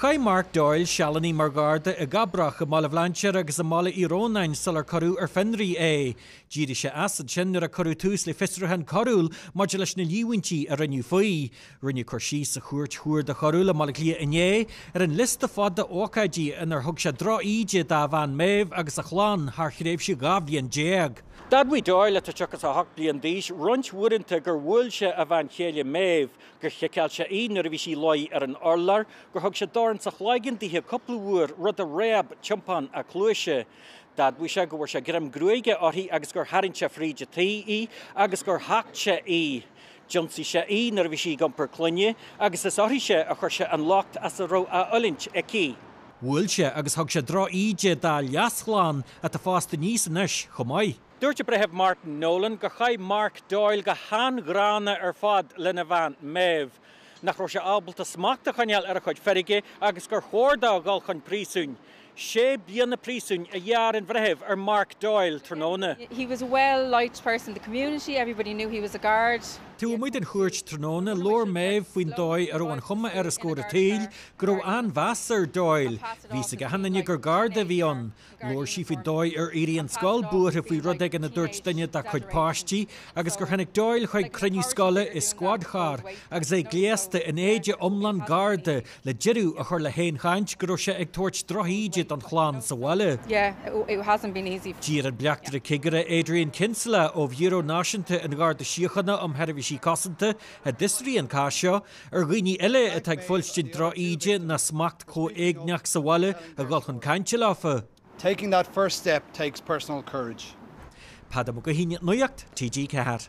Chaith Mark Doyle sealanna mar gharda i gCabrach, i mBaile Bhlainséir agus i mBaile Uí Rónáin sular cuireadh ar fionraí é. D'éirigh sé as ansin nuair a cuireadh tús le fiosrúchán coiriúil maidir leis na líomhaintí a rinneadh faoi. Rinneadh cur síos sa Chúirt Chuarda Choiriúil i mBaile Átha Cliath inné ar an liosta fada ócáidí inar thug sé drochíde dá bhean Maeve agus a chlann thar thréimhse dhá bhliain déag. D'admhaigh Doyle, atá 38 bliain d'aois, roinnt uaireanta gur bhuail sé a bhean chéile Maeve gur chiceáil sé í nuair a bhí sí ina luí ar an urlár, gur thug sé dorn sa chloigeann dithe cúpla uair, rud a réab tiompán a cluaise. D'admhaigh sé go bhfuair sé greim gruaige uirthi agus gur tharraing sé fríd an teach í agus gur thacht sé í. D'ionsaigh sé í nuair a bhí sí ag iompar clainne agus is uirthi-se a chuir sé an locht as a raibh á fhulaingt aici. Bhuail sé agus thug sé droch-íde dá leas-chlann atá fásta aníos anois chomh maith. Dúirt an Breitheamh Martin Nolan gur chaith Mark Doyle go han-ghránna ar fad lena bhean, Maeve, nach raibh sé ábalta smacht a choinneáil ar a chuid feirge agus gur chóir dó a dhul chun príosúin. Sé bliana príosúin a ghearr an breitheamh ar Mark Doyle tráthnóna. He was a well liked person in the community, everybody knew he was a guard. Taobh amuigh den chúirt tráthnóna. Labhair Maeve faoin dóigh a raibh an chuma air os comhair an tsaoil go raibh an-mheas ar Doyle. Bhí a fhios ag achan duine gur garda a bhí ann. Labhair sí faoin dóigh ar éirigh an scoil buartha faoi rud éigin a dúirt duine dá cuid páistí agus gur tháinig Doyle chuig cruinniú scoile i squad car agus é gléasta in éide iomlán Garda le deireadh a chur le haon chaint go raibh sé ag tabhairt drochíde don chlann sa bhaile. D'iarr an Bleachtaire Cigire Adrian Kinsella ó Bhiúró Náisiúnta an Gharda Síochána um Sheirbhísí Cosanta a d'fhiosraigh an cás seo, Ar dhaoine eile atá ag fuilstint drochíde ná smacht comhéigneach sa bhaile a dhul chun cainte leofa. Taking that first step takes personal courage. Peadar Mac Gaoithín, Nuacht TG4.